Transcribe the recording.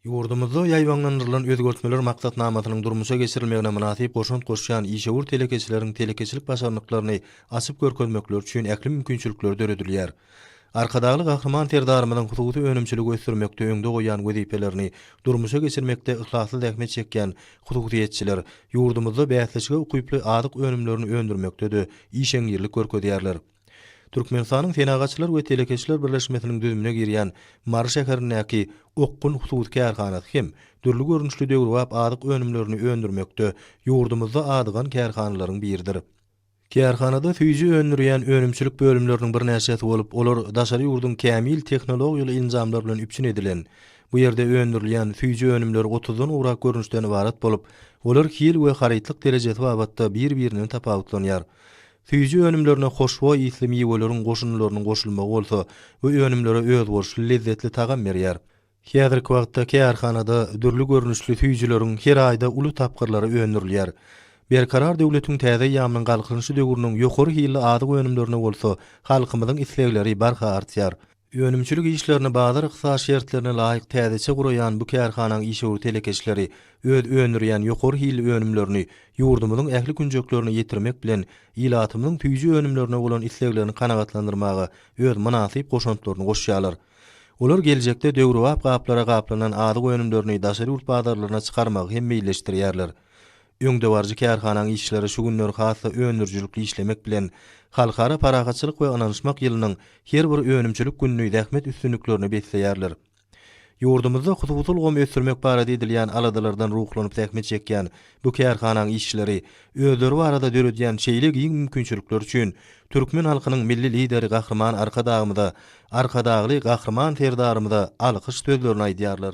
Ýurdumyzda ýaýbaňlandyrylan özgertmeler maksatnamasynyň durmuşa geçirilmegine mynasyp goşant goşýan işewür telekeçileriň telekeçilik başarnyklaryny açyp görkezmekleri üçin ähli mümkinçilikler döredilýär. Arkadagly Gahryman Serdarymyzyň hususy önümçiligi ösdürmekde öňde goýan wezipelerini durmuşa geçirmekde yhlasly zähmet çekýän hususyýetçiler ýurdumyzda bäsleşige ukyply azyk önümlerini öndürmekde-de işeňňirlik görkezýärler. Türkmenistanyň Senagatçylar we telekeçiler birleşmesiniň düzümine girýän Mary şäherindäki Okgun hususy kärhanasy hem dürli görnüşli döwrebap azyk önümlerini öndürmekde ýurdumyzda adygan kärhanalaryň biridir. Kärhanada süýji öndürýän önümçilik bölümleriniň birnäçesi bolup, olar daşary ýurduň kämil tehnologiýaly enjamlar bilen üpjün edilen. Bu ýerde öndürilýän süýji önümler otuzdan gowrak görnüşden ybarat bolup, olar hil we harytlyk derejesi babatda bir-birinden tapawutlanýar. Süýji önümlerine hoşboý ysly miweleriň goşundylarynyň goşulmagy bolsa bu önümlere özboluşly lezzetli tagam berýär. Häzirki wagtda kärhanada dürli görnüşli süýjüleriň her aýda uly tapgyrlary öndürilýär. Berkarar döwletiň täze eýýamynyň Galkynyşy döwrüniň ýokary hilli azyk önümlerine bolsa halkymyzyň islegleri barha artýar. Önümçilik işlerini bazar-ykdysady şertlerine laýyk täzeçe guraýan bu kärhanaň işewür telekeçileri öz öndürýän ýokary hilli önümlerini ýurdumyzyň ähli künjeklerine ýetirmek bilen, ilatymyzyň süýji önümlerine bolan isleglerini kanagatlandyrmaga öz mynasyp goşantlaryny goşýarlar. Olar geljekde döwrebap gaplara gaplanan azyk önümlerini daşary ýurt bazarlaryna çykarmagy hem meýilleşdirýärler. Öňdebaryjy kärhanaň işçileri şu günler has-da öndürijilikli işlemek bilen, Halkara parahatçylyk we ynanyşmak ýylynyň her bir önümçilik gününi zähmet üstünliklerine besleýärler. Ýurdumyzda hususy ulgamy ösdürmek barada edilýän aladalardan ruhlanyp zähmet çekýän bu kärhanaň işçileri özleri barada döredýän şeýle giň mümkinçilikler üçin türkmen halkynyň Milli Lideri Gahryman Arkadagymyza, Arkadagly Gahryman Serdarymyza alkyş sözlerini aýdýarlar.